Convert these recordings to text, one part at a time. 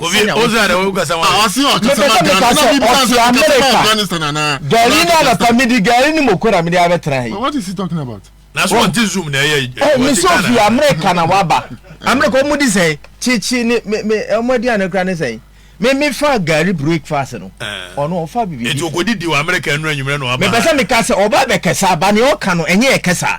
Obi Ozra na wo kasa wa. Ɔsi ɔkasa ma Ghana. Mepɛ sɛ meka sɛ ɔte Amerika. Gari na anapa midi gari ne moko na mede abɛtena yi. What is he talking about? Na so ɔte zoom na ɛyɛ yi. Ɔ mi sɛ ofi Amerika na waba. Amerika ɔmo di sɛn? Kyekye ne me me ɔmo adi ano kura ne sɛn? Me me fa gari breakfast no. Ɔno ɔfa bibi. Etu okɔ didi wɔ Amerika enu enyimire na ɔba. Mepɛ sɛ meka sɛ ɔba bɛkɛsa ba ne ɔka no ɛnyɛ ɛkɛsa.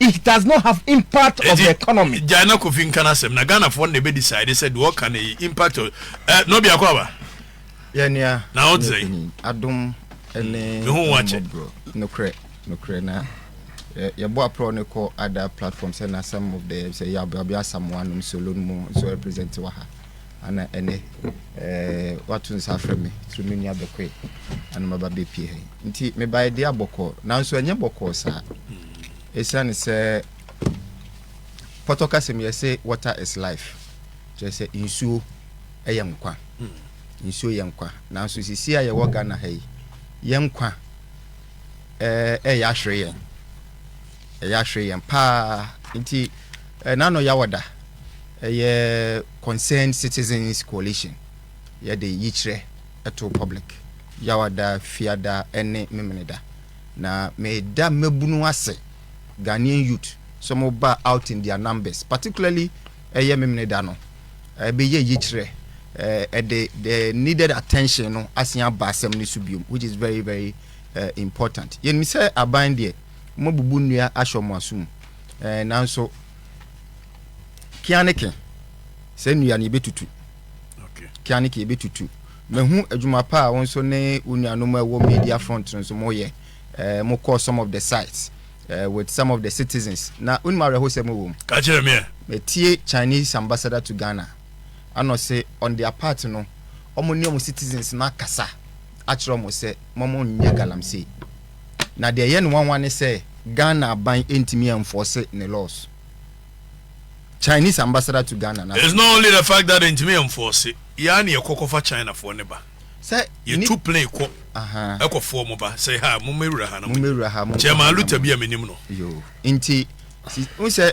It does not have impact of the economy. Gyae na Kofi nka n'asɛm na Ghanafoɔ no na ɛbɛ decide sɛ deɛ ɔka no yi impact of eh, na obiako aba. Yɛ nua. Na ɔte sɛ. Adom ne mmɔborɔ. Nokorɛ, nokorɛ na yɛbɔ aprɔ no kɔ ada platform sɛ na some of the sɛ yɛabɛasamoa nom solo no mu nso represent wɔ ha. Ana ɛnɛ woato nsa afrɛ me sɛ me nua bɛkɔe ana maba bɛpie ha yi nti mebaeɛ deɛ abɔkɔɔ nanso ɛnyɛ bɔkɔɔ saa ɛsiane sɛ pɔtɔ kasɛm yɛse water is life kyerɛ sɛ nsuo ɛyɛ nkwa nsuo yɛ nkwa nanso sisi a yɛwɔ Ghana ha yi yɛ nkwa ɛyɛ ahwere yɛn Ɛyɛ ahwere yɛn paa. Nti Nano Yawɔda yɛ Concerned Citizens Coalition yɛde yikyerɛ to public Yawɔda, Fiada ne Memeneda. Na meda mmabunu ase, Ghanaian youth, sɛ wɔn ba out in their numbers, particularly ɛyɛ Memeneda no, ɛbɛyɛ yikyerɛ, ɛde the needed attention no asen aba asɛm no so biom, which is very very important. Yɛnim sɛ aban deɛ. wɔabubu nnua ahyɛ wɔn aso mu. Ɛɛ, nanso Kianeke, saa nnua no yɛbɛtutu. Kianeke yɛbɛtutu. Mahu adwuma pa a wɔn nso ne wɔn nuanom a ɛwɔ media front no nso wɔyɛ. Ɛɛ, mokɔ some of the sites uh, with some of the citizens. Na wonim awerɛhosɛm wɔ mu. Ka kyerɛ me. Metie Chinese ambassador to Ghana. Ana ɔse on their part no, wɔn ne wɔn citizens no akasa akyerɛ wɔn sɛ wɔn nyɛ galamsey. Na deɛ ɛyɛ no nwanwa ne sɛ Ghana aban ntumi ɛnfɔse ne laws. Chinese ambassador to Ghana na. It's not only the fact that yɛntumi ɛnfɔse, yɛn ara na yɛkɔ kɔfa Chinafoɔ no ba. Sɛ nip. Yɛtu plane kɔ Ahaa. ɛkɔfoɔ wɔn ba sɛ ha mommɛwura ha na monni. Mommɛwura ha, monkɔ ha na monni. Chairman Luther bi a menim no. Yoo, nti, si, wohu sɛ.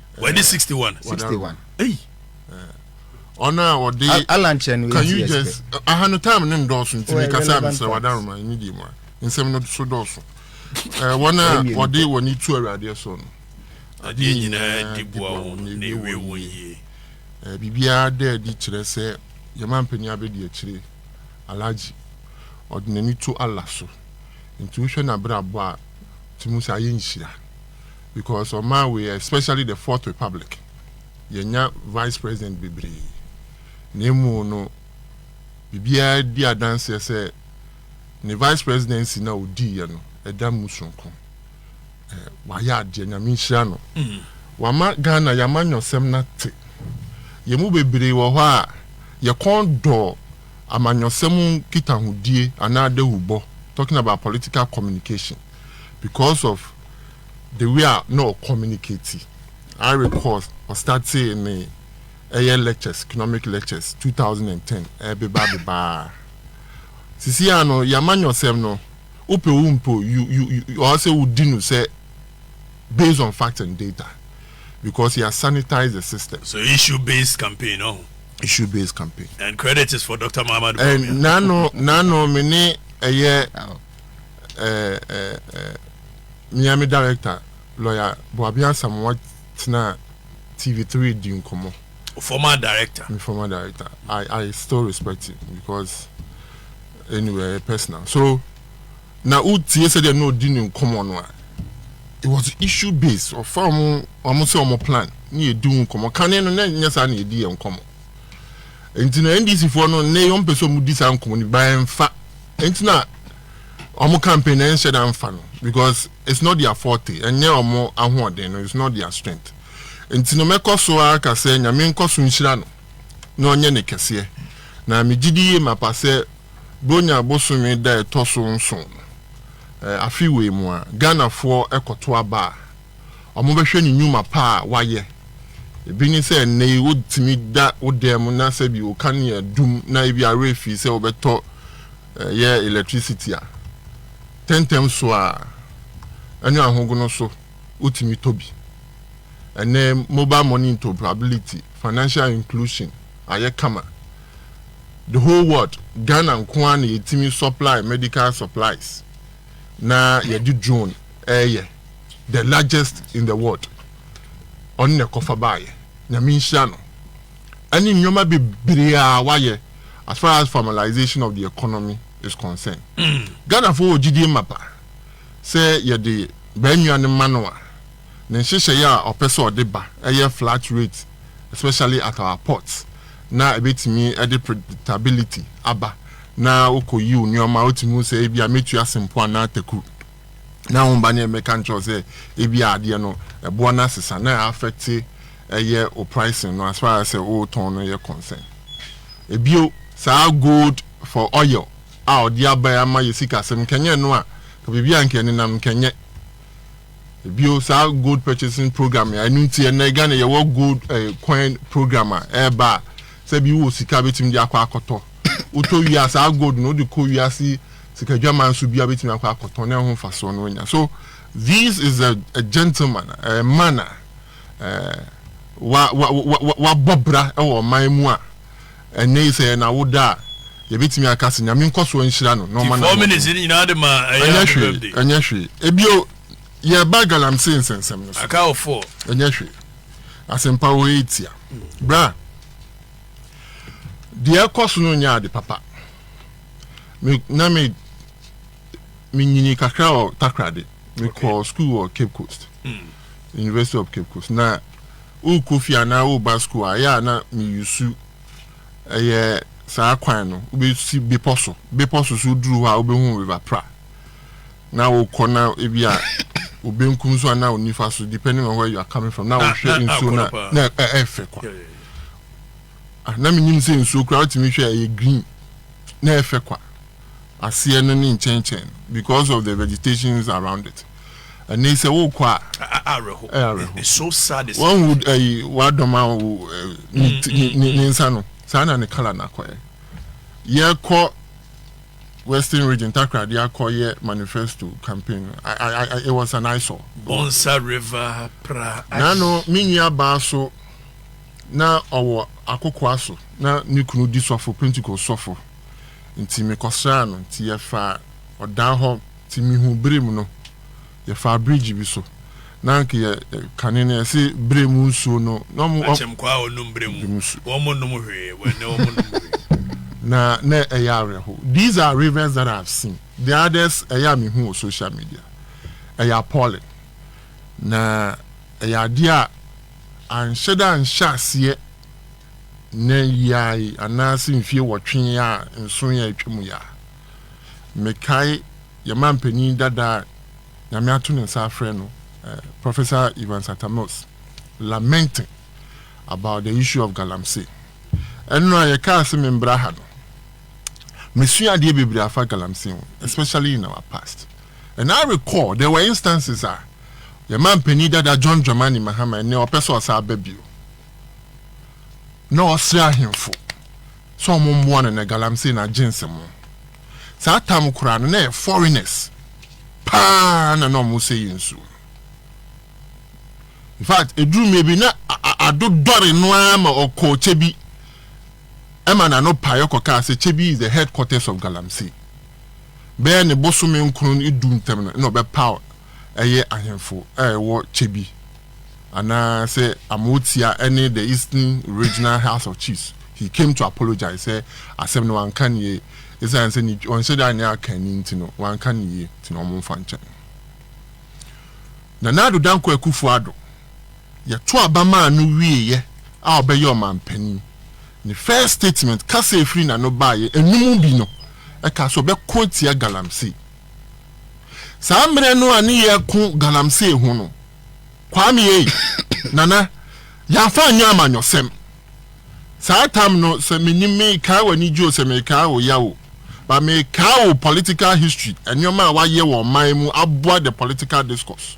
wɔde sixty one. sixty one. eyi ɔno a ɔde alankyɛ no can you just aha no time ne ndɔɔso nti mi kasa abisira wadaroma mi di mu a nsɛm no so dɔɔso ɛɛ wɔn a wɔde wɔn ani tu awuradeɛ so no adeɛ nyinaa di boa wɔn na ewie wɔn yie ɛɛ biribiara dɛ ɛde kyerɛ sɛ yɛma mpanyin abɛdi akyire alagye ɔde n'ani to ala so nti wohwɛ n'abrabɔ a tumi sɛ ayɛ nhyira. Because ɔman wei especially the fourth republic yɛnya vice president bebree na emu no biribiara di adanseɛ sɛ ne vice presidency na odiiɛ no ɛda mu sonko wayɛ adeɛ nyame nhyira no mm. wama Ghana yɛama nyɔsɛm no ate yɛn mu bebree wɔ hɔ a yɛkɔn dɔ amanyɔsɛm nkitahodie anaa dawubɔ talking about political communication because of the way a na ɔ communicate I recall ɔ startee ne ɛyɛ lectures economic lectures two thousand and ten ɛbeba bebaa sisi a no yama nyɔsɛm no wopɛ wo mpo you you ɔ sɛ wodi no sɛ based on fact and data because yɛ sanitize the system. So issue based campaign ɔho. Issue based campaign. And credit is for Doctor Mahamadou Bawumia. Ɛn nano nano me ne ɛyɛ. eh, eh, eh, mea me director, lawyer Boabia Asamoah tenaa TV3 di nkɔmmɔ. Former director. Me former director. I, I still respect him because anyway, personal. So, na wotie sɛ deɛ na ɔdi ne nkɔmmɔ no a, it was issue based. Ɔfa wɔn wɔn sɛ wɔn plan ne yɛ di ho nkɔmmɔ. Kane no na nyɛ saa na yɛ di yɛ nkɔmmɔ. Nti na NDC foɔ no ne yɔn mpɛ sɛ wɔn di saa nkɔmmɔ no ba yɛn fa. Nti na wɔn campaign no ɛnhyɛ da nfa no because it's not their forte, ɛnyɛ wɔn ahoɔden no, it's not their strength. Nti no mɛkɔ so ara ka sɛ Nyame nkɔ so nhyira no na ɔnyɛ ne kɛseɛ. Na megye di yie mapa sɛ Buronya bosome da ɛtɔ so nson no, afe wei mu a, Ghanafoɔ kɔto aba a, wɔbɛhwɛ ne nnwuma pa a wayɛ. Ebi ne sɛ nnɛ yi wotumi da wo dan mu na sɛbi wo kanea dum na ebia worefi sɛ wobɛtɔ yɛ electricity a, tɛntɛm so a ɛne ahogono so wotumi tɔ bi. Ɛnnɛ mobile money interoperability, financial inclusion ayɛ kama. The whole world, Ghana nko ara na yɛtumi supply medical supplies na yɛde drone reyɛ. the largest in the world ɔno na ɛkɔfa baayɛ nyame nhyira no ɛne nneɛma bebree a wayɛ as far as formalization of the economy is concerned mm. Ghana fo wɔ gyidie mapa sɛ yɛde baanua no ma no a ne nhyehyɛeɛ a ɔpɛ sɛ ɔde ba ɛyɛ flat rate especially at our ports na ɛbɛtumi ɛde predictability aba na wokɔ yiw nneɛma wotumi sɛ ebi a mɛtua sempo anaa takuru na wɔn ba ne mmeka nkyerɛw sɛ ebi a adeɛ no ɛboɔ no asesa na afɛte ɛyɛ o pricing no as far as sɛ o tɔn no yɛ concern ebio saa gold for oil a ɔde aba ya ma yɛ sikasɛm nkɛnyɛ no a ka biribi a nkɛ nenam nkɛnyɛ ebio saa gold purchasing program ya ɛnu nti ɛnɛ Ghana yɛwɔ gold eh, coin program a ɛɛba a sɛ bi wɔ sika betumi de akɔ akɔtɔ wotɔ wie a saa gold no wode kɔ wiase sikadwaman nso biara bɛtumi akɔ akɔtɔn na ɛho mfasoɔ no anya so this is a, a gentleman a man a wabɔ bra wɔ ɔman mu a ɛnɛ yi sɛ yɛn awoda a yɛbɛtumi aka sɛ nyame nkɔsoɔ nhyira no na ɔma no ɛnyɛ hwee ɛnyɛ hwee ebio yɛba galamsey nsɛnsɛm no so ɛnyɛ hwee asɛmpa wɔ yɛ tia bra deɛ ɛkɔ so no nyɛ ade papa me na me menyini kakra wɔ takrade mekɔ okay. school wɔ cape coast mm. university of cape coast na wokɔ fie anaa woba school a ɛyɛ a na meyusu ɛyɛ saa kwan no wobɛsi bepɔ so bepɔ so so woduru hɔ a wobɛhu river pra na wokɔ na ebi a obenkum so anaa onifa so depending on where you are coming from na wohwɛ nsuo na na ɛfɛ kwa Ah, na menim sɛ nsuo koraa wotumi hwɛ ɛyɛ green na ɛyɛ fɛ kwa. Aseɛ no ne nkyɛnkyɛn no because of the vegetations around it. Ɛnɛ sɛ wokɔ a awerɛho. ɛyɛ awerɛho. It's so sad. It's Wɔn hu ɛyi wadɔm a wo ɛ, ne ti- ne- ne ne nsa no saa na ne kala no akɔyɛ. Yɛkɔ Western Region Takoradi akɔ yɛ manifesto campaign no. I, I, I, it was an eyesore. Bonsa River pra. Nano me nua baa so Ná ɔwɔ akokoaa so, na ne kunu di sɔfo, Pentekost sɔfo. Enti mekɔsraa no, enti yɛfaa ɔdan hɔ. Enti mihuu bere mu no, yɛfaa bridge bi so. Ná anka yɛ, kane no yɛse bere mu nsuo no, na wɔn. Akyɛmkwaa a wɔnom bere mu, wɔnnom hwee, ɛnnɛ wɔnnom hwee. Na na ɛyɛ awerɛhow. These are rivers that I have seen, the others ɛyɛ a mehu wɔ social media, ɛyɛ appalling, na ɛyɛ adeɛ a. Anhyɛ da nhyɛ aseɛ nnɛ yi ara yi anaase mfie wɔtwe yi ara nson yi a atwa mu yi ara. Mekae yɛn manpanin dada a Nyame ato ne nsa afrɛ no, Professor Evans Atta Mills lamenting about the issue of Galamsey. Ɛno a yɛkaa se membra ha no, mesua adeɛ bebree afa Galamsey ho especially in our past. And I recall there were instances a yɛn manpanin dada John Dramani Mahama ɛnɛ ɔpɛ sɛ ɔsan ba bio na ɔsrɛ ahemfo sɛ ɔmo mmoa no na galamsey na agye nsɛmɔ. Saa tam koraa no na ɛyɛ foreigners paa na na ɔmo sɛ yɛn nsuo no. In fact, eduru mmɛ bi na a- a- adodɔre no ara ma ɔkɔɔ kyɛ bi ɛma n'ano paeɛ kɔkaa sɛ Kyebi is the headquarters of Galamsey. Bɛyɛ ne bosome nkron du ntam no na ɔbɛpaw ɛyɛ ahemfo a ɛwɔ Kyebi, anaa sɛ Amotia ne the Eastern Regional House of Chiefs. He came to apologize sɛ asɛm no wanka no yie, ɛsiane sɛ ne ɔnhyɛ da nyɛ akanni nti no wanka no yie nti na wɔmfa nkyɛn. Nana Addo Dankwa Akufo-Addo. Yɛto aba maa no wieɛ a ɔbɛyɛ ɔmanpanin. Ne first statement, kasa a ɛfiri n'ano baeɛ, ɛno mu bi no, ɛkaa sɛ ɔbɛko atia Galamsey. Saa mmerɛ no a ne yɛreko Galamsey ho no, Kwame ei, Nana, yɛamfa anyɛ amanyɔsɛm. Saa tam no, sɛ menim merekaa w'anigye o, sɛ merekaa wo yaw o, but merekaa wo political history, nneɛma a woayɛ wɔ ɔman mu aboa the political discourse.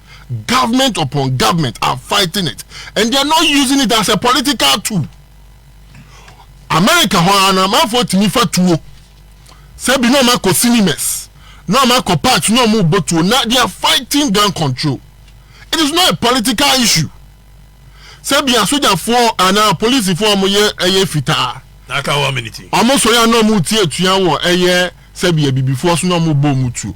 government upon government are fighting it and they are not using it as a political tool america hɔ ara no amanfoɔ tumi fa tuo sɛ bi na ɔma kɔ cinemas na ɔma kɔ parks na ɔmo bɔ tuo na they are fighting gun control it is not a political issue sɛ bi asogyafoɔ anaa polisifoɔ ɔmo yɛ ɛyɛ fitaa N'aka one minute. ɔmo sɔre a na ɔmo tie atua wɔ ɛyɛ sɛ bi abibifoɔ so na ɔmo bɔ ɔmo tuo.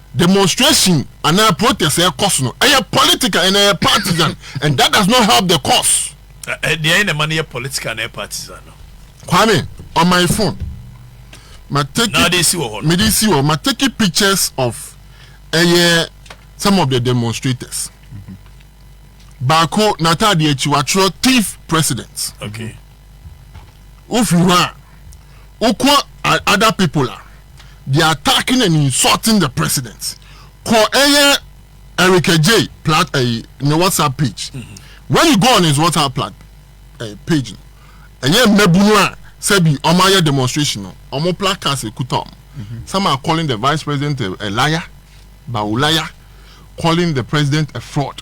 Demonstration anaa protest a ɛkɔ so no, ɛyɛ political and ɛyɛ partisan and that does not help the cause. Deɛ ɛyɛ na ɛma no yɛ political na ɛyɛ partisan no. Kwame, on my phone, ma take na ɔde si wɔ hɔ no. Mede si wɔ, ma take pictures of ɛyɛ some of the demonstrators. Baako n'ataadeɛ akyi watwerɛ thief president. Okay. wofi hɔ a wokɔ other people a they are attacking and insulting the president kɔ ɛyɛ Eric J plat ɛyi eh, ne whatsapp page mm -hmm. when you go on his whatsapp plat ɛyi eh, page no ɛyɛ mmabunu a sɛbi ɔmo ayɛ demonstration no ɔmo placards ekuta ɔmo mm -hmm. some are calling the vice president a, a liar bawulaya calling the president a fraud.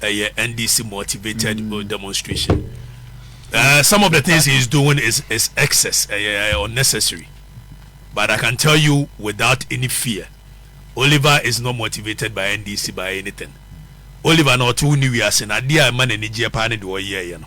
Ɛyɛ NDC motivated demonstration uh, some of the things he is doing is is excess ɛyɛ uh, uh, unnecessary but I can tell you without any fear Oliver is not motivated by NDC by anything Oliver na ɔte wo ne wiase na adeɛ a ɛma n'ani gyeɛ paa ne deɛ ɔyɛɛyɛ no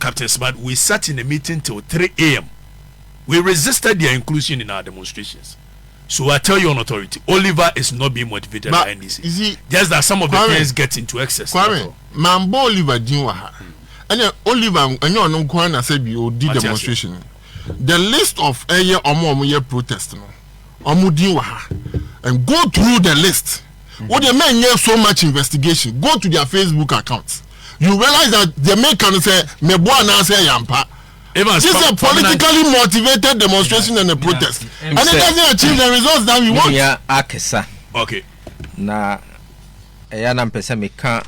Captain Smart, we sat in a meeting till three AM, we resisted their inclusion in our demonstrations, so I tell you on authority, Oliver is not being motivated by NDC, just that some of the Kenyans get into excess, Kwame, mambɔ Oliver din wɔ ha, ɛnna Oliver ɛnyɛ ɔno nko ara na sɛ bi ɔdi demonstration, the list of ɛyɛ wɔn a wɔyɛ protest no, wɔn din wɔ ha, and go through the list. Wo deɛ mɛ nyɛ so much investigation go to their Facebook account you realize that deɛ mɛ ka no sɛ mɛ bɔ anaasɛ ɛyɛ ampa. This is a politically motivated demonstration and a protest and it doesn't achieve the results that we want. Nua akesa. Okay. Na ɛyɛ na mpɛ sɛ meka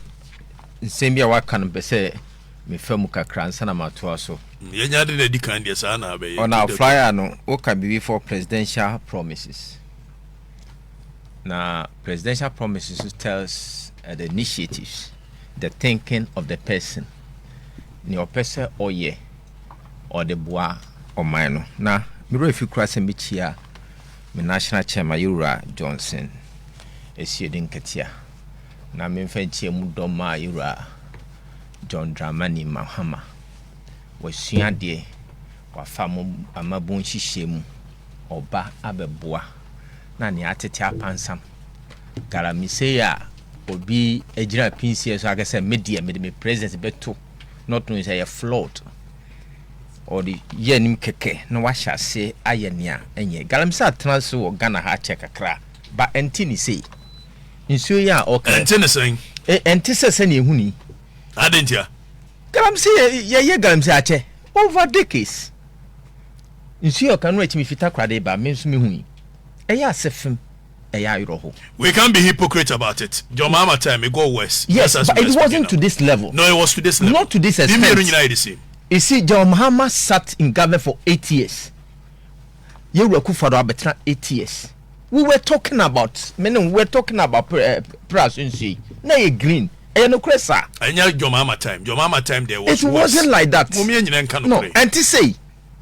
nsɛm bi a waka no mpɛ sɛ mefa mu kakra nsa na matoa so. Yɛnya de na di kan deɛ saa na abɛyɛ. Ɔna flyer no woka biribi for presidential promises. Na presidential promise nso tells uh, the initiatives, the thinking of the person. Nea ɔpɛ sɛ ɔyɛ, ɔde boa ɔman no. Na mmerɛ fi kura sɛ mekyia me national chairman yɛwura Johnson Asiedi Nketia. Na memfa nkyia mu dɔm a yɛwura John Dramani Mahama. Wasua adeɛ Wɔafa mo amabun nhyehyɛe mu ɔba abɛboa na nea atete apansam. Galamsey a obi gyina pinsie so aka sɛ me deɛ mede me president bɛto not knowing sɛ ɛyɛ flawed. Ɔde yɛ anim kɛkɛ na wahyɛ ase ayɛ nea ɛnyɛ. Galamsey atena ase wɔ Ghana ha akyɛ kakra ba ɛnte ne sei. Nsuo yi a ɔka. Ɛnte ne sɛn? Ɛnte sɛ sɛnea ehu ni. Adɛn ntia? Galamsey yɛyɛ galamsey akyɛ over decades nsuo ɔka no ɛtumi fita kora de ba me nso me hui ɛyɛ asɛ fem ɛyɛ ayerɔ ho. We can't be hypocrite about it John Mahama time it got worse yes but it wasn't to this level no it was to this level not to this extent you see John Mahama sat in government for eight years yɛ wura kufa do abɛtena eight years we were talking about me ne we were talking about pra eh, pras nsuo yi na yɛ green ɛyɛ nokorɛ saa. ɛnyɛ jɔmaama time jɔmaama time deɛ was it wasn't like that mo miɛ nyina nka nokorɛ no ɛnti sei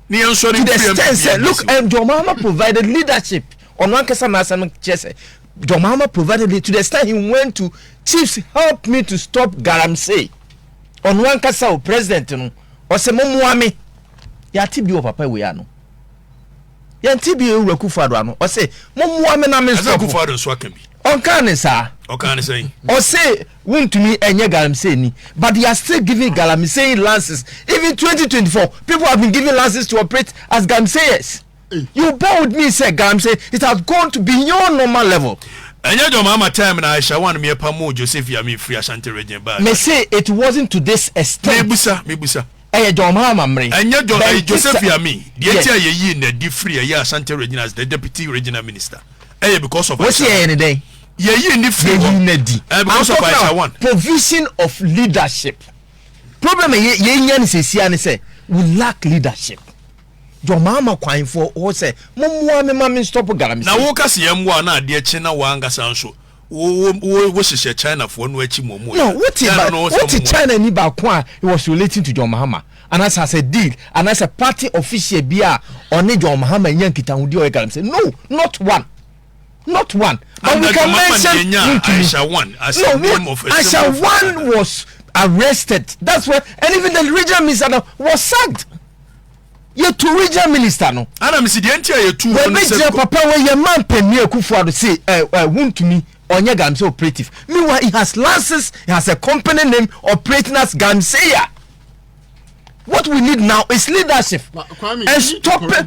ne yɛn sɔre to the extent sɛ look and jɔmaama provided leadership ɔno ankasa na asɛm kyerɛ sɛ jɔmaama provided leadership to the extent he went to chiefs help me to stop galamsey ɔno ankasa o president no ɔsɛ mo mmoa me yɛate bi wɔ papa wei ano yɛn ti bi ewura kufado ano ɔsɛ mo mua mi na mi nsɔfo ɛna kufado nso aka bi ɔnkan ne saa ɔkan ne sɛn ɔsɛ wuntumi ɛnyɛ galamsey ni but they are still giving galamsey lances even twenty twenty four people have been giving lances to operate as galamseyers you bear with me sɛ galamsey it has gone to beyond normal level. ɛnyɛ jɔ maa ma time na aisha wan mi ɛpa mu joseph yami firi ashanti region baa. me say it wasn't to this extent. mebusa mebusa. Ɛyɛ John Mahama mmere. Ɛnyɛ John, ɛyɛ Joseph Yami. Deɛ enti a yɛyii no adi firi ɛyɛ Asante Region as the Deputy Regional Minister ɛyɛ because of Aisha. Wɔsi ɛyɛ ne dɛn? Yɛyii no firi hɔ. Yɛyii no adi. Ɛyɛ because of Aisha one. Provision of leadership. Problem a yɛnya no sesia ne sɛ we lack leadership. John Mahama kwanfoɔ hɔ sɛ mommoa me ma me stop Galamsey. Na woka sɛ yɛmmoa na adeɛ kye na woankasa nso Wo wo wo wo hyehyɛ China foɔ no akyi mɔ mu No, wote China no ɔsɛ wote China ni baako a he was relating to John Mahama anaasɛ as a deal anaasɛ party official bi a ɔne John Mahama nya nkitahodie ɔyɛ galamsey no not one not one but we can mention wontumi Aisha one as no a name of a Aisha one was arrested that's why and even the regional minister was sacked. yɛtu regional minister no. ana mesi deɛ nti a yɛtu hɔ no sɛ. papa wei yɛ man panyin akufo ado se ɛ ɛ wuntumi ɔnyɛ galamsey operative meanwhile he has license he has a company name operating as galamseya what we need now is leadership and stop it.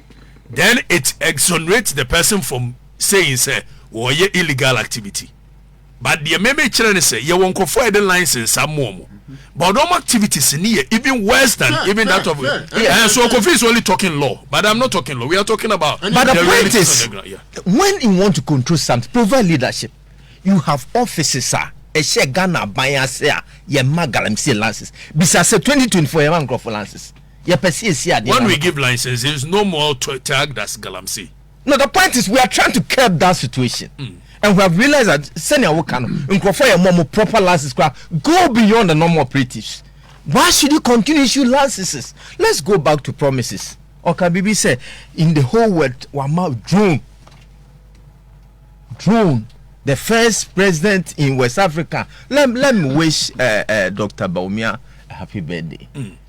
then it exonerates the person from saying sɛ wɔyɛ illegal activity but deɛ mɛmɛ kyerɛ ne sɛ yɛwɔ nkurɔfoɔ a yɛde lines nsa mu wɔn but wɔn activities ni yɛ even worse than yeah, even yeah, that of yeah, yeah. yeah. so Kofi is only talking law but I'm not talking law we are talking about but the, the point is the yeah. when you want to control something provide leadership you have offices sir ɛhyɛ ghana aban ase a yɛma galamsey lances bisa sɛ 2024 yɛma nkurɔfo lances Yɛpɛ sɛ yɛsi adeɛ When we give licenses, no more to tag das galamsey. No, the point is we are trying to curb that situation mm. and we have realized that sɛnea woka no nkurɔfoɔ yɛ mmɔ mo proper licenses koraa go beyond the normal operatives why should you continue issue licenses let's go back to promises ɔka biribi sɛ in the whole world wama drone drone the first president in west africa let, let me wish uh, uh, dr baumia a happy birthday mm.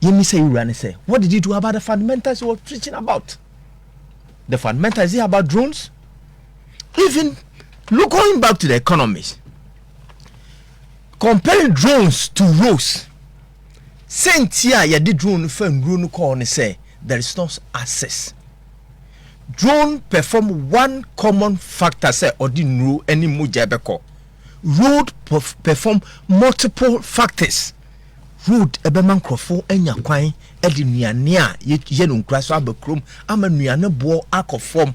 yɛmmisa yɛn wura no sɛ what did he do about the fundamentals he was preaching about the fundamentals is about drones even look going back to the economies comparing drones to roads sɛnti a yɛde drone no fa nnuro no kɔɔ no sɛ there is no access drone perform one common factor sɛ ɔde nnuro ne mogya bɛkɔ Road perform multiple factors. Road ɛbɛma nkurɔfo anya kwan de nnuane a yɛyɛ no nkura so aba kurom ama nnuane boɔ akɔ fam.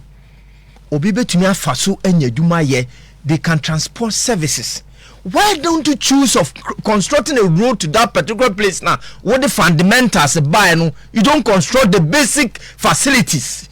Obi bɛtumi afa so anya adwuma yɛ. They can transport services. Why don't you choose of constructing a road to that particular place now? What the fundamentals by no, you don't construct the basic facilities.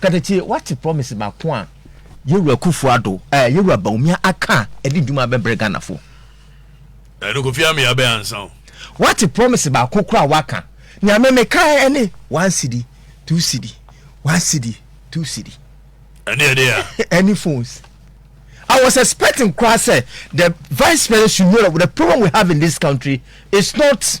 Ka tete wate promise baako a yewura Kufu Ado eh yewura Bawumia aka a ɛde dwuma abɛbrɛ Ghana foɔ. Ɛno Kofi Ame abɛ ansa o. Wate promise baako kora a waka nea me me kae ɛne one cedi two cedi one cedi two cedi. Ɛne ɛde a. Ɛne phones. I was expecting koraa sɛ the vice president should know that the problem we have in this country is not.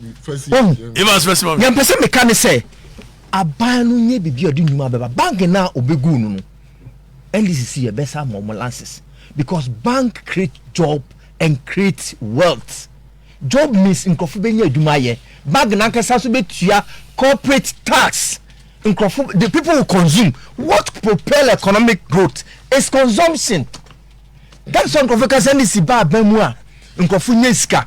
deɛ mpɛ sɛ meka ne sɛ aban no nyɛ biribi a ɔde nnwuma bɛba bank no a ɔbɛgu no no ndcc yɛbɛsa ama ɔmo lances because bank create job and create wealth job means nkurɔfo bɛnya adwuma ayɛ bank nankasa so bɛtua corporate tax nkurɔfo the people will consume what propel economic growth is consumption that's why nkurɔfo ka sɛ ndcc ba aban mu a nkurɔfo nya sika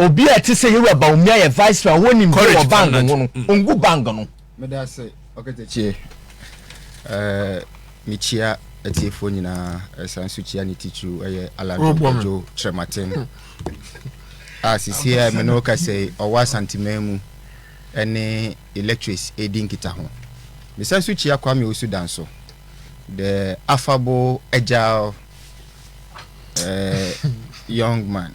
Obi a ɛte sɛ Yowura Bawumia yɛ Viceroy a ɔwɔ nimdeɛ wɔ bang ho no, ɔngu bang no. Meda ase Ɔkatakyie. Mekyia atiefoɔ nyinaa, ɛsan nso kyia ne titiriw ɛyɛ Alado Kojo Kyerɛmaten a sisi a me ne wo kasa yi ɔwɔ Asanteman mu ɛne electrics ɛredi nkitaho. Mesan nso kyia Kwame Owusu Danso, the affable agile uh, young man.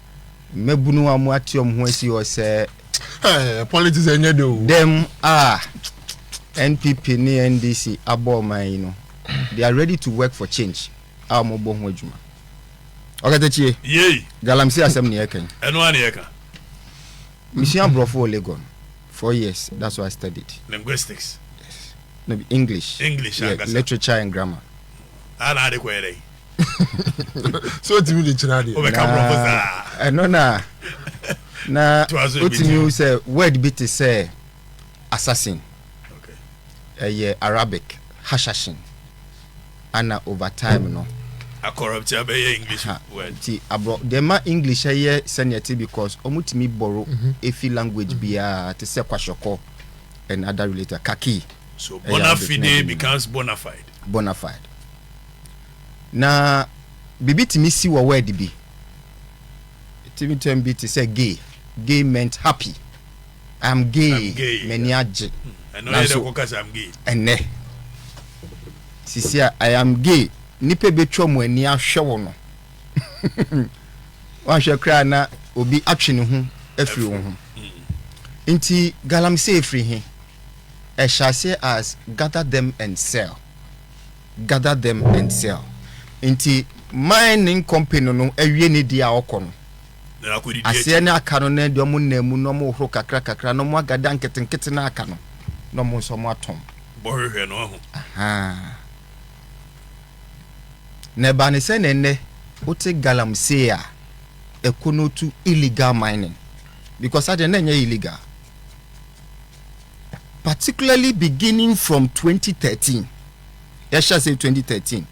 mmabunu a wɔn ate wɔn ho asi hɔ sɛ. ɛɛ politics ɛnyɛ de o. dɛm a npp ne ndc abɔ ɔman yi no they are ready to work for change a wɔn bɔ ho adwuma ɔkatakyie. yei galamsey asɛm ne yɛka yi. ɛno a ne yɛka. mesua aborɔfo wɔ legon four years that's why i studied. linguistics. yes no english. english yeah, ankasa. literature and grammar. ana ade kɔ yɛ dɛ. so otumi de kyerɛ adeɛ. ɔbɛka borɔfo saa. ɛno na na otumi wu sɛ word bi te sɛ assassin ɛyɛ arabic hashashin ana over time no. akɔrɔpti abɛyɛ english word. ti aborɔ deɛ ma english ɛyɛ sɛnea ɛte because wɔn tumi bɔro mhm. efi language mhm. biara te sɛ kwashiɔkɔ and other related kaki. so bona fide becomes bona fide. bona fide. Na biribi tumi si wɔ word bi tumi tɛm bi te sɛ gay gay meant happy i'm gay m'ani agye nanso ɛnɛ sisi a i am gay nipa betwa mu ani ahwɛ wɔ no wahwɛ koraa na obi atwe ne ho afiri wo ho nti galamsey firi he ɛhyɛ ase as gather them and sell gather them and sell nti mining company no awie ne deɛ a ɔkɔ no aseɛ ne aka no na deɛ ɔmo nam mu na ɔmo horo kakra kakra na ɔmo agada nketenkete na aka no na ɔmo nso ɔmo atɔn bɔhwehwɛ no aho na ɛba ne sɛ na ɛnɛ wote galamsey a ɛkɔ no to illegal mining because adeɛ na ɛnyɛ illegal particularly beginning from 2013 yɛhyɛ sɛ 2013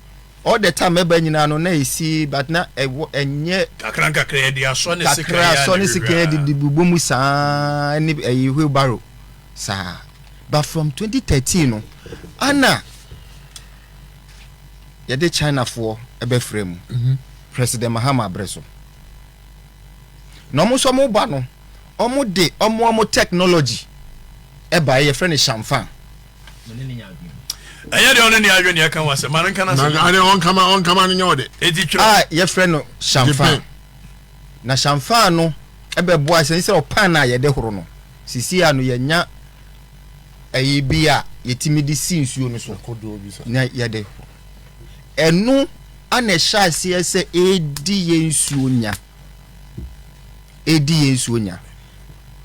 all the time ɛba nyinaa no na ɛsi but na ɛwɔ ɛnyɛ kakra nkakra yɛde asɔ ne sekan kakra asɔ ne sekan yɛde de bubɔ mu saa ɛne ɛyi wheelbarrow saa but from 2013 no ana yɛde Chinafoɔ ɛbɛfrɛ mu mhm. President Mahama abere so na wɔn nso wɔn ba no. Ɔmo de ɔmo ɔmo technology baeɛ yɛfrɛ no shamfan. ɛnyɛ deɛ ɔne ne adwe ne ɛka ho asɛm ma no nka no asɛm ɔnkama ɔnkama no nyɛ ɔde ɛti twerɛ a yɛfrɛ no shamfan na shamfan no ɛbɛboa sɛ sɛ ɔpan a yɛde horo no sisi a no yɛnya ɛyi bi a yɛtumi de si nsuo no so na yɛde horo ɛno ana ɛhyɛ aseɛ sɛ ɛdi yɛ nsuo nya redi yɛn nsuo nya.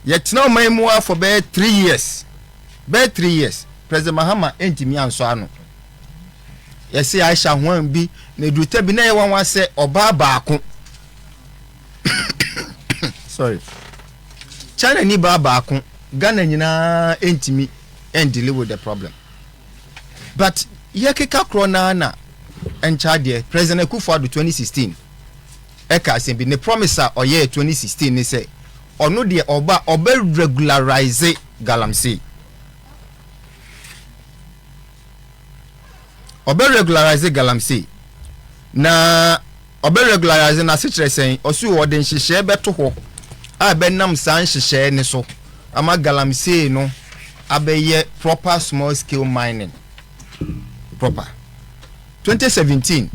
Yɛtena ɔman mu ara for bɛyɛ three years. Bɛyɛ three years, President Mahama ntumi ansɔ ano. Yɛse Aisha Huang bi, na ɛduru ta bi na ɛyɛ wanwa sɛ ɔbaa baako. Sorry. China ni baa baako, Ghana nyinaa ntumi and deal with the problem. But yɛkeka korɔ naa na ɛnkyɛ adeɛ, President Akufo-Addo 2016, ɛka asɛm bi. Ne promise a ɔyɛɛ twenty sixteen ne sɛ ɔno deɛ ɔba a ɔbɛ regularize galamsey. Ɔbɛ regularize galamsey. Na ɔbɛ regularize n'ase kyerɛ sɛn? Ɔsi o ɔde nhyehyɛɛ bɛto hɔ a ɛbɛnam saa nhyehyɛɛ ne so ama galamsey no abɛyɛ proper small scale mining proper. Twenty seventeen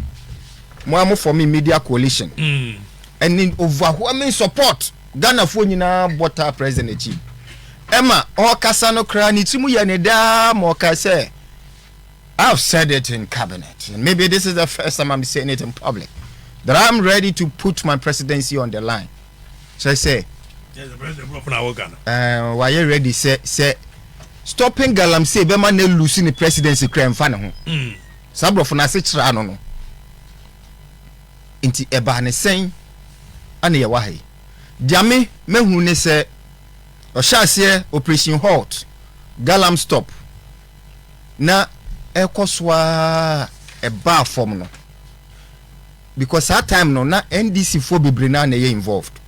mo a mo fɔmi media coalition ɛne mm. overwhelming support ghanafoɔ nyinaa bɔ taa president akyi ɛma ɔkasa no koraa ne tirim yɛ ne daa ma ɔka sɛ I've said it in cabinet and maybe this is the first time I'm saying it in public that I'm ready to put my presidency on the line kyerɛ sɛ ɛɛ wayɛ ready sɛ sɛ stopping galamsey bɛma na elusi ne presidency kura nfa ne ho mm. saa aborɔfo no ase kyerɛ ano no nti ɛbaa ne sɛn ɛna yɛ wɔ ha yi deɛ me mɛhunu ne sɛ ɔhyɛ aseɛ operation halt galam stop na ɛkɔ so a ɛbaa fam no. because saa time no na NDC foɔ bebree naa na ɛyɛ involved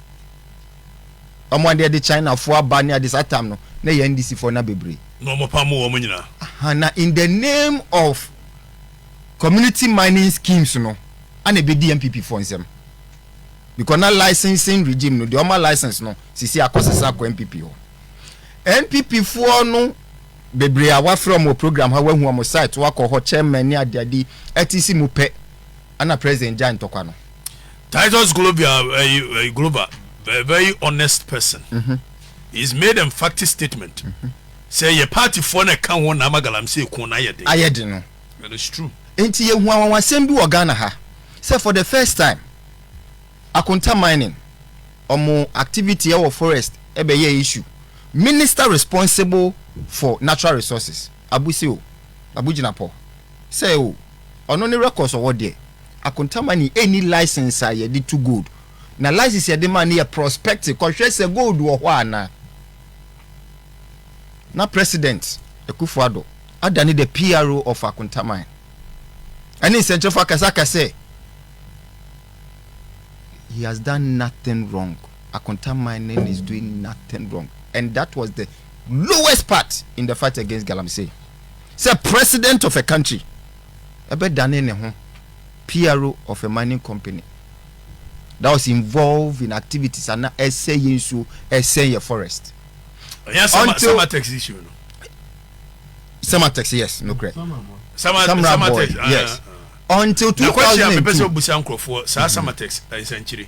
wɔn adeɛ de China foɔ aba ne ade saa time no na ɛyɛ NDC foɔ na bebree na wɔn pamo wɔn nyinaa. Aha na in the name of community mining schemes no ana ɛbɛdi NPP foɔ nsam because na licensing regime no deɛ wɔn ma license no sisi akɔ sesa akɔ NPP hɔ NPP foɔ no bebree a wafrɛ wɔn wɔ program ha wahu wɔn site wakɔ hɔ chairman ne adeade ɛte si mu pɛ. Ana president gyae ntɔkwa no. Titus Globia ɛyi ɛyi Globa a very honest person. Mm-hmm. He is made emphatic statement. Mm-hmm. Sɛ yɛ party foɔ na ɛka ho na ama galamsey ko na ayɛ den. Ayɛ den no. It is true. Nti yɛ hu awanwasɛm bi wɔ Ghana ha sɛ for the first time Akonta mining ɔmo activity ɛwɔ forest ɛbɛyɛ issue. Minister responsible for natural resources Abu se o, Abu Jinapor sɛ o. Ɔno ne records ɔwɔ deɛ. Akontamani ɛnni license a yɛde tu gold. Na license yɛde maa no yɛ prospecting kɔhwɛ sɛ gold wɔ hɔ anaa. Na President Akuffo Addo adane the PRO of Akontaman. Ɛne nsɛnkyerɛfo akasa aka sɛ he has done nothing wrong. Akontaman is doing nothing wrong. And that was the lowest part in the fight against Galamsey. sɛ president of a country ɛbɛdane ne ho PRO of a mining company that was involved in activities ana ɛsɛ yɛ nsuo ɛsɛ yɛ forest. ɛyɛ sama sama tax issue no. sama tax yes no correct. sama sama sama tax ah, yes ah, ah. until two thousand and two. na kɔkye a mepɛ sɛ obusa nkurɔfoɔ saa mm-hmm. sama tax ɛnsɛnkyire. Eh,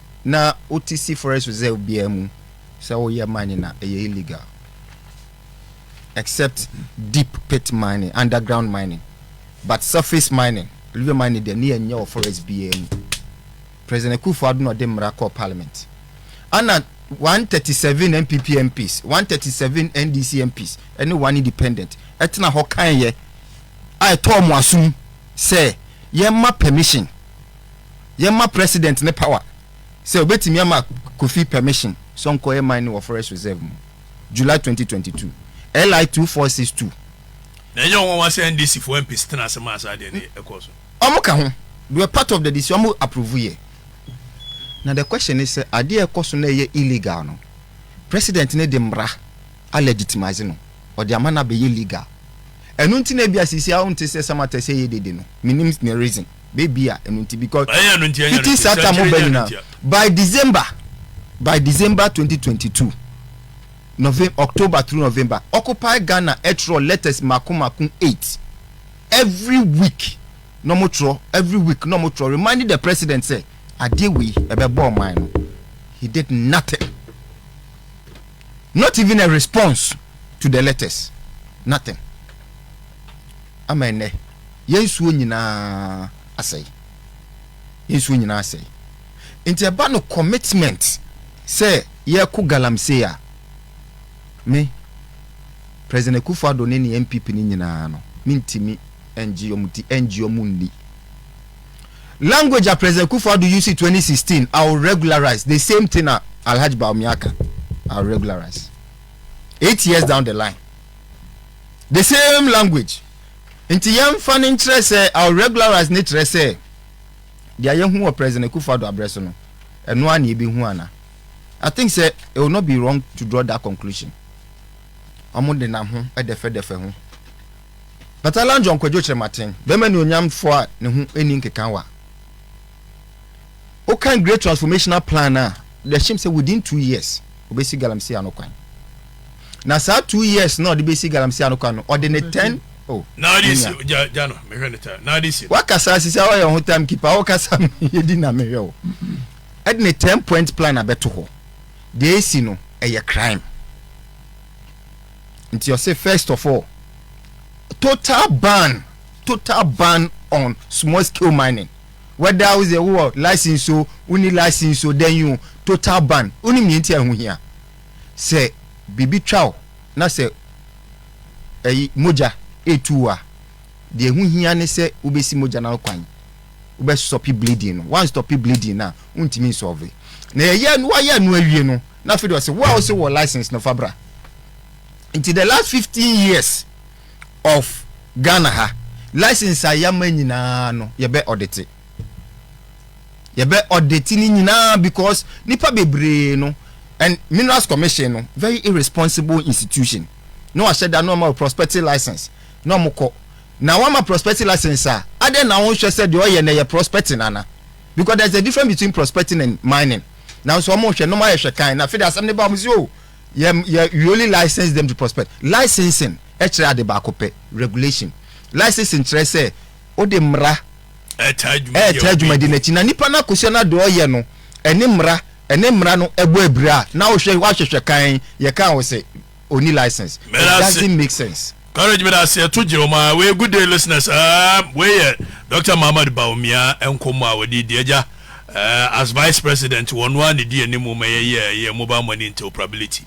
Na wo te si forest reserve biara mu sɛ wo yɛ mining a ɛyɛ illegal except deep pit mining underground mining but surface mining river mining deɛ ne yɛ nyɛ wɔ forest biara mu President Akufo Addo na ɔde mmara kɔɔ parliament ana 137 NPP MPs 137 NDC MPs ɛne one independent ɛtena hɔ kan yɛ a ɛtɔɔ mo asom sɛ yɛmma permission yɛma president ne power sɛ obetumi ama Kofi permission sɛ ɔnkɔyɛ mining wɔ forest reserve mu, July twenty twenty two, LI two four six two. Na ɛnyɛ nwanwa sɛ NDC foɔ MPs tenaa ase maa saa adeɛ no kɔɔ so. Wɔn ka ho, they were part of the decision, wɔn approve yɛ. Na the question ne sɛ, adeɛ a ɛkɔ so na ɛyɛ illegal no, president no de mmara a legitimise no, ɔde ama no abɛyɛ legal. Ɛno nti na ebia seesei a wonte sɛ Samata sɛ ɛyɛ dede no, mennim ne reason. bɛ bia ɛno nti because fiti saa time ho bɛ nyina by December by December twenty twenty two November October through November occupy Ghana ɛtwerɛ letters mako mako eight every week na ɔmo twerɛ every week na ɔmo twerɛ reminding the president sɛ adeɛ wei ɛbɛ bɔ ɔman no he did nothing not even a response to the letters nothing. ama ɛnnɛ yɛn nsuo nyinaa asɛe. Yɛn nsuo nyinaa asɛe. Nti ɛba no commitment sɛ yɛko galamsey a, me, President Akufo Addo ne ne NPP no nyinaa no, mentimi ngye wɔn ti, ngye wɔn nni. Language a President Akufo Addo use 2016, I will regularize, the same thing a Alhaji Bawumia ka, I will regularize. Eight years down the line. The same language. Nti yɛmfa no nkyerɛ sɛ I'll regularize no kyerɛ sɛ deɛ yɛhu wɔ President Akufo-Addo abrɛ so no, ɛno ara na yɛbɛhu ana? I think sɛ it will not be wrong to draw that conclusion. Wɔn de nam ho dɛfɛdɛfɛ ho. But Alan John Kwadwo Kyerematen, bɛrima nuonyamfoɔ a ne ho ɛni nkekawa, wokan great transformational plan no a yɛhyem sɛ within two years obɛsi galamsey ano kwan na saa two years na ɔde bɛsi galamsey ano kwan no ɔde ne ten oh, wakasa sisi a wɔyɛ ho time keeper wokasa yɛdi na mehwɛ wo ɛde ne ten point plan abɛto hɔ deɛ ɛsi no ɛyɛ crime nti ɔse first of all total ban total ban on small scale mining whether wo dze wowɔ license o, wonni license o, dɛn o, total ban. Wonim nyɛ ntsi a ho hia? Sɛ biribi twa wo na sɛ ɛy mogya retu wo a, deɛ ɛho hia ne sɛ wobɛsi mogya no ano kwan. Wobɛstɔpe bleeding no. Woanstɔpe bleeding no a, wontumi nsɔlve. Na yɛyɛ no, woayɛ no awie no, na afei deɛ ɔse, wo a wose wowɔ license no, fa bra. Nti the last 15 years, of Ghana ha license a yɛama nyinaa no yɛbɛ ɔdete yɛbɛ ɔdete no nyinaa because nipa bebree no and minerals commission no very irresponsible institution na wahyɛ da na ɔma prospective license na ɔmo kɔ na wama prospective license a adɛn na wɔn hwɛ sɛ deɛ ɔyɛ na ɛyɛ prospecting ana because there is a difference between prospecting and mining nanso wɔn hwɛ na wɔn ayɛ hwɛ kan na afei de asɛm ne ba wɔn si o oh, Yɛ yɛ we only license them to prospect. Licensing kyerɛ ade baako pɛ, regulation. Licensing kyerɛ sɛ wode mmara ɛretaa dwumadi no akyi na nipa no akosua no ade ɔyɛ no ɛne mmara ɛne mmara no ɛbɔ abira a na wohwɛ wahwehwɛ kan yɛka wo sɛ ɔni license. It doesn't make sense. Courage meda ase ɛto gye wɔn ara wei good day listeners ɛɛm wei yɛ Doctor Mohammed Bawumia nkɔmmɔ a wɔde di agya ɛɛ as vice president wɔn ara ne di anim ma yɛyɛ yɛ mobile money interoperability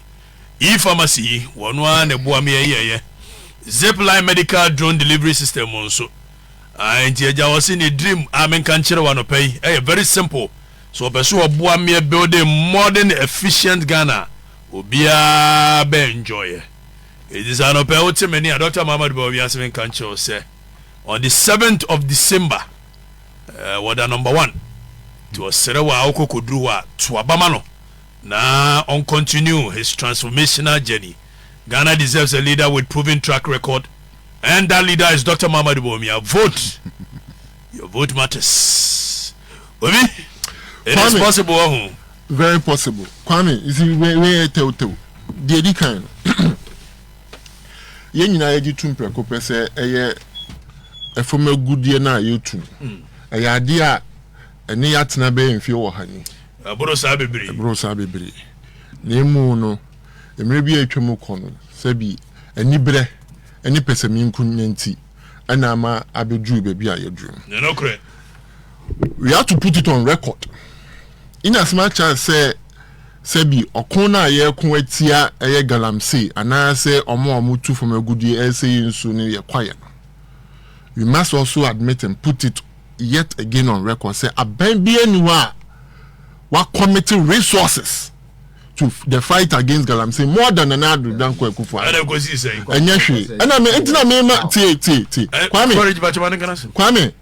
e pharmacy yi wɔn ara ne boa ma yɛyɛ yɛ zip line medical drone delivery system mu nso ɛɛ nti agya wɔ se ne dream a menka nkyerɛ wɔn anɔpɛ yi ɛyɛ very simple so wɔpɛ so wɔboa ma yɛ building modern efficient Ghana obiara bɛ enjoy yɛ. Enti sɛ anɔpa yi wote me nne a Dɔkta Muhammad bɛba wiase menka nkyerɛ wo sɛ on the seventh of December eh, wɔda number one nti ɔsrɛ wo a wokɔ kɔduru hɔ a to aba ma no na on continue his transformational journey. Ghana deserves a leader with proven track record and that leader is Dr. Muhammad Bawumia. Vote! Your vote matters. Obi, it is possible. Very possible. Kwame, you see, where where tell tell. The Eddie kind. Yɛn nyinaa yɛgye tum prɛko pɛ sɛ ɛyɛ ɛfam agudeɛ no a yɛtum. Mm. Ɛyɛ adeɛ a ɛne yɛatena bɛyɛ mfeɛ wɔ ha ni. Ɛboro saa bebree. Ɛboro saa bebree. Na emu no, mmerɛ bi a atwa mu kɔ no, sɛbi aniberɛ ne pɛsɛmenkonya nti, ɛna ama abɛduru baabi a yɛduru no. Ne nokorɛ. We have to put it on record in as much as sɛ sɛbi ɔko no a yɛko atia ɛyɛ galamsey anaasɛ ɔmo a ɔmo tu fam agudie ɛsɛ yɛ nsuo no yɛ kwaeɛ no we must also admit and put it yet again on record sɛ aban bi ani hɔ a wakɔmete resources to the fight against galamsey more than nana ado danko akufo ɛna kosi sɛn ɛnyɛ hwee ɛna me ntina me ma tie tie tie kwame kwame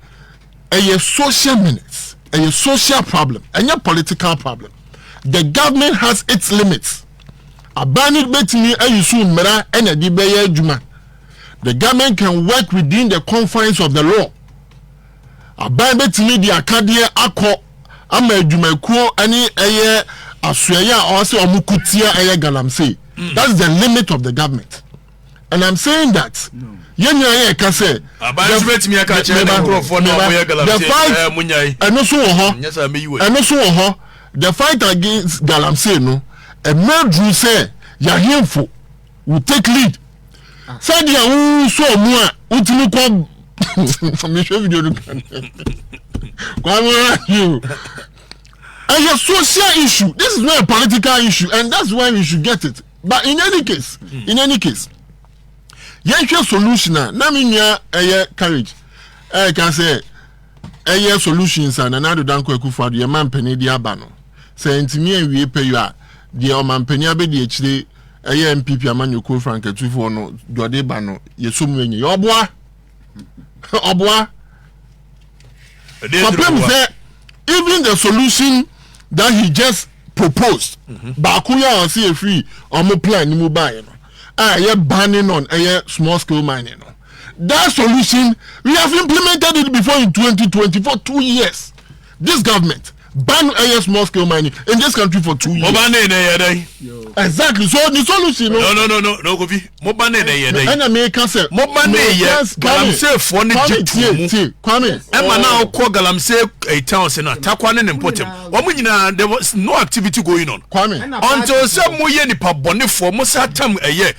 ɛyɛ social minutes ɛyɛ social problem ɛnyɛ political problem the government has its limits aban no betumi ayi so mmara ɛna ɛde bɛyɛ adwuma the government can work within the confines of the law. Aban bɛtumi de akadeɛ akɔ ama adwumakuo ne ɛyɛ asoɛeɛ a ɔwɔ sɛ wɔn ko tia ɛyɛ galamsey. Mm. That is the limit of the government. And I'm saying that yɛn nyinaa yɛ ɛka sɛ. Aban nso bɛtumi aka kyerɛ ne nkurɔfoɔ na wɔn yɛ galamsey ɛɛ mo nya yi. Ɛno so wɔ hɔ. Ɛno so wɔ hɔ. The fight against galamsey no ɛmɛ duru sɛ yɛahemfo. wo take lead sɛdeɛ wosɔ mu a wotumi kɔ mehwɛ video no kan kwamorahio ɛyɛ social issue this is not a political issue and that's why we should get it but in any case hmm. in any case yɛnhwɛ solution a na me nua ɛyɛ courage ɛka sɛ ɛyɛ solutions a nana adoda nkɔ akufo ado yɛma mpanin de aba no sɛ ntumi awie pɛ yɔ a deɛ ɔmampanin abɛdi akyire ɛyɛ npp amanyɔkuo frankatufoɔ no dɔde ba no yɛsɔ mu enyi ɔboa ɔboa kɔpem sɛ even the solution that he just proposed mhm. baako yɛ a ɔsɛ efiri ɔmo plan ne mu baayɛ no a ɛyɛ banning on ɛyɛ small scale mining no that solution we have implemented it before in 2024 two years this government Ba no ɛyɛ small scale mining in this country for two years. Mo ba ne na ɛyɛ dɛn? Exactly so the solution no. No no no no no Kofi mo ba ne na ɛyɛ dɛn? Ɛna mi ka sɛ. Mo ba ne yɛ galamseefoɔ ne gye tuo mu. Kwame ɛma na ɔkɔ galamsey eh, town se na takwa ne ne mpɔtam. Wɔn nyinaa there was no activity going on. Kwame until sɛ mo yɛ nipa bɔnefoɔ mo sa tam ɛyɛ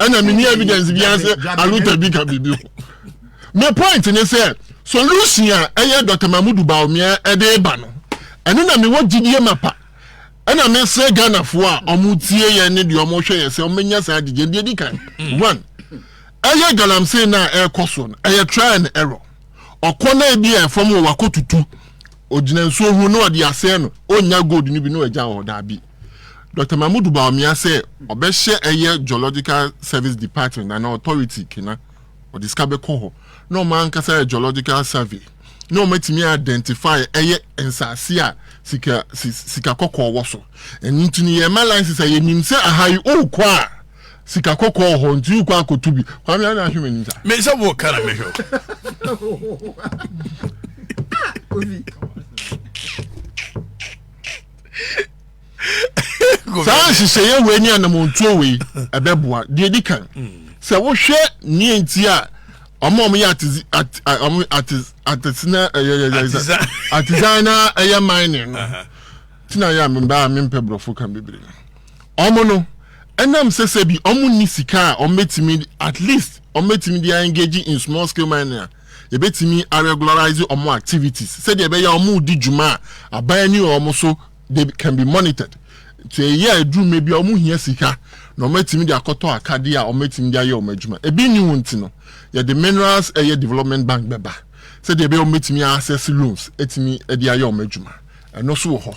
ɛna mini evidence bi ase aluta bi ka biribi ho my point ne sɛ solution a ɛyɛ dr mahmudu baomia ɛde ba no ɛno na mewɔ gyidie ma pa ɛna mesrɛ ghanafoɔ a ɔmo tie yɛ ne deɛ ɔmo hwɛ yɛ sɛ ɔmo nya saa gyigye deɛ di kan one ɛyɛ galamsey no a ɛrekɔ so no ɛyɛ try and error ɔkɔ na ebi a ɛfam wɔ wakɔ tutu ogyina nsuo ho na ɔde asɛn no ɔnya gold no bi na ɔgya wɔ daabi Doctor Mahmoud Bawumia sɛ ɔbɛhyɛ ɛyɛ Geological Service Department anaa Authority kena, ɔde sika bɛkɔ hɔ na wɔn ankasa yɛ geological survey na wɔn atumi identify ɛyɛ nsaase a sika sika kɔkɔɔ wɔ so. Ɛno nti no yɛma license a yɛnim sɛ aha yi wokɔ a sika kɔkɔɔ hɔ nti wokɔ akɔto bi. Kwame ana ahwɛ m'anim sa. Me sɛ wo ka na mehwɛ. Ah, saa nhyehyɛeɛ wei ne anamontuo wei ɛbɛboa deɛ di kan sɛ wohwɛ neɛ nti a ɔmo ɔmo yɛ ɔmo atesina atizan na ɛyɛ mining no ti na yɛ a mbaa mempɛ borɔfo kan bebree no ɔmo no ɛnam sɛ sɛ bi ɔmo ni sika a ɔmo bɛtumi at least ɔmo bɛtumi de engage in small scale mining a Yɛbɛtumi a regularize wɔn activities sɛdeɛ ɛbɛyɛ a wɔredi dwuma a aban ani wɔ wɔn so they can be monitored. Nti ɛyɛ a ɛduru mmɛ bi a wɔn hia sika na wɔn atumi de akɔtɔ akadeɛ a wɔn atumi de ayɛ wɔn adwuma. Ebi nni ho nti no yɛde minerals ɛyɛ development bank bɛba sɛdeɛ ɛbɛyɛ a wɔn bɛtumi a access loans atumi de ayɛ wɔn adwuma. ɛno so wɔ hɔ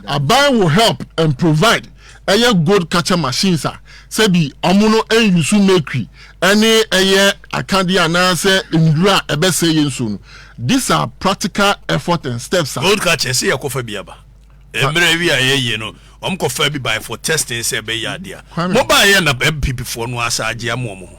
aban will help and provide ɛyɛ gold catcher machines a sɛbi ɔmo no ɛnyusu mercury ɛne ɛyɛ akadeɛ anaasɛ nnuro a ɛbɛsɛ yɛ nsuo no these are practical effort and steps a. gold catcher sɛ yɛ kɔfa bi aba mmerɛ awi a yɛyɛ no ɔmo kɔfa bi by for testing sɛ ɛbɛyɛ adeɛ a mo ba yɛ na mpp foɔ no asa agye ama ɔmo ho.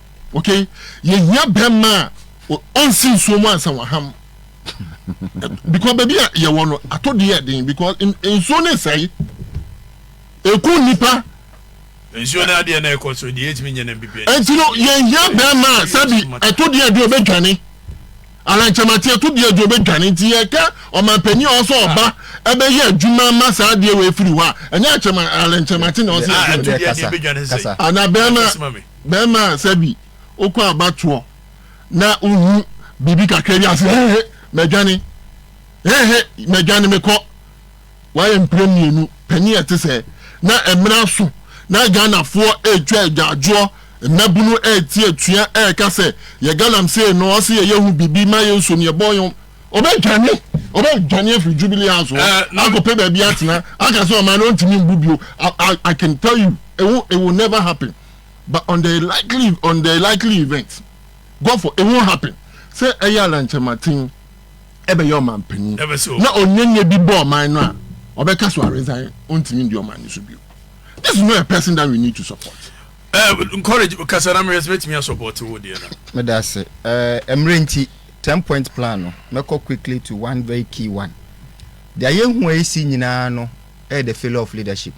ok yɛhia bɛrima a ɔnsi nsuo mu ansa waham because baabi a yɛwɔ no atɔ di yɛ den because nsuo ne sɛe ɛku nnipa nsuo no adeɛ na ɛkɔ so deɛ ɛtumi nyɛ no bibia ɛnti no yɛhia bɛrima a sɛbi ɛto deɛ adi ɔbɛdwane alankyɛmate ɛto deɛ adi ɔbɛdwane nti yɛka ɔmampani a ɔsɛ ɔba ɛbɛyɛ adwuma ma saa adeɛ wɔ ɛfiri hɔ a ɛnyɛ alankyɛmate na ɔsɛ ɛto deɛ adi ɔbɛdwane sɛ ana bɛrima Bɛɛma a sɛ bi wokɔ abatoɔ na wohu biribi kakra bi a se he he madwane he he madwane mekɔ. Wayɛ mprɛ mmienu panin a ɛte sɛɛ na mmrɛ aso na Ghanafoɔ retwa agyaadwoɔ mmabunu rete atua reka sɛ yɛ galamsee no ɔse yɛyɛ hu biribi ma yɛ nso no yɛbɔ yɔn Ɔbɛdwane ɔbɛdwane afiri Jubilee House hɔ akɔpɛ baabi atena aka sɛ ɔman no ɔntumi mbu bio I can tell you it will never happen. but on the likely on the likely event god for it won't happen sɛ ɛyɛ alankyɛmaten ɛbɛyɛ ɔman panyin na onyanya bi bɔ ɔman no a ɔbɛka so aresan ontumi ndi ɔman no so bio this is not a person that we need to support. Uh, encourage kasa na mmerɛ sɛ mɛtumi asɔpɔte wo deɛ no meda ase mmerɛ nti 10 point plan no mɛkɔ quickly to one very key one deɛ yɛhu a ɛsi nyinaa no Ɛyɛ the failure of leadership.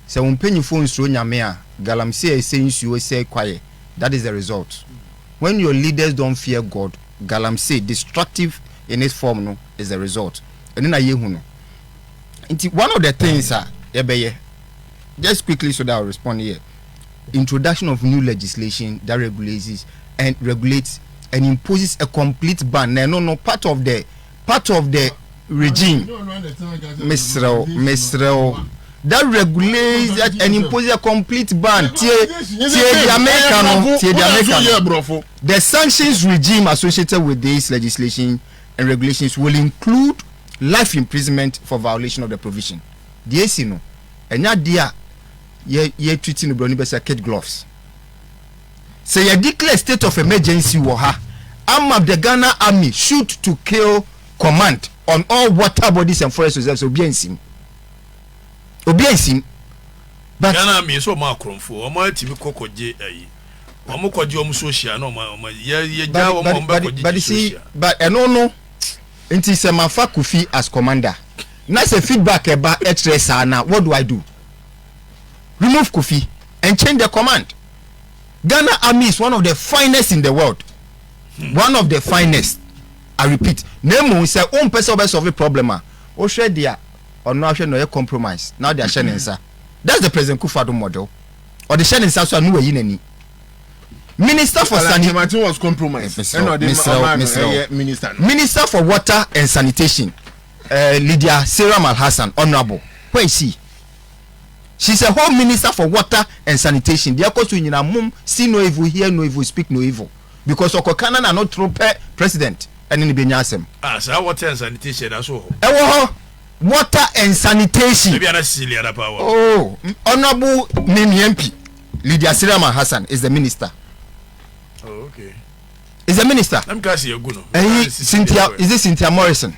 Sɛ wo mpanyinfoɔ nsuro Nyame a, galamsey a ɛsɛe nsuo, ɛsɛe kwaeɛ, that is the result. When your leaders don't fear God, galamsey, destructive in its form no is the result. Ɛno na yɛhu no. Nti one of the things a yɛbɛyɛ, just quickly so that I will respond here, introduction of new legislation that regulates and regulates and imposes a complete ban. Na ɛno no part of the part of the regime mesrɛ wo mesrɛ wo that regulates that and imposes a complete ban. Tie tie the American no tie the American. The sanctions regime associated with this legislation and regulations will include life imprisonment for violation of the provision. Deɛ esi no ɛnya deɛ a yɛ yɛ tuti no broni bɛsɛ kid gloves. Sɛ yɛ declare state of emergency wɔ ha ama the Ghana army shoot to kill command on all water bodies and forest reserves obi ansim obi ansim but. Ghana army nso wɔn akorɔmfo wɔn atumi kɔ kɔgye ayi wɔn kɔgye wɔn social na wɔn wɔn yɛ yɛ gya wɔn wɔn bɛ kɔgye gye social. But ɛno no nti sɛ ma fa Kofi as commander na sɛ feedback ɛba ɛkyerɛ saa na what do I do remove Kofi and change the command. Ghana army is one of the finest in the world. Hmm. One of the finest. I repeat. Na emu sɛ o mpɛ sɛ ɔbɛ solve problem a, o hwɛ deɛ ɔno ahwɛ na ɔyɛ compromise na ɔde ahyɛ ne nsa. That's the President Kufuor model. Ɔde hyɛ ne nsa so a no wayi n'ani. Minister for sanitation was compromised. Ɛna ɔde ɔmaa no ɛyɛ minister. Minister for water and sanitation, uh, Lydia Seram Al Hassan, honourable. Where is she? She is a home minister for water and sanitation deɛ ɛkɔ so nyina mom see no evil hear no evil speak no evil because ɔkɔ ka na n'ano toro pɛ president ɛne ne bɛnya asɛm. Ah saa water and sanitation ɛda so wɔ hɔ. Ɛwɔ hɔ water and sanitation. Ebi ana sisi liada paa wɔ. Oh honourable mimi MP Lydia Sirama Hassan is the minister. Oh okay. Is the minister. Nam kasi egu no. Ɛyi Cynthia is it Cynthia Morrison.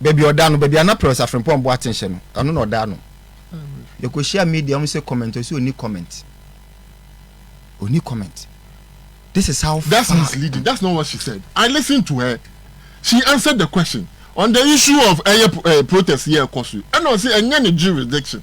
baabi ɔda no baabi a na Peres Afrempong Boateng hyɛ no ɛno na ɔda no yɛkɔhyia media wɔn sɛ comment ɔsɛ ɔni comment ɔni comment this is how far that's misleading that's not what she said I listened to her she answered the question on the issue of ɛyɛ eh, eh, protest yɛ ɛkɔ so ɛna ɔsɛ ɛnyɛ ne jurisdiction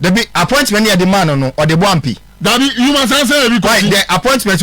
Dabi, appointment no yɛde maa no no, ɔde bɔ ampe. Dabi, Yuma saa sɛ yɛ bi kɔ si. Why, the appointment.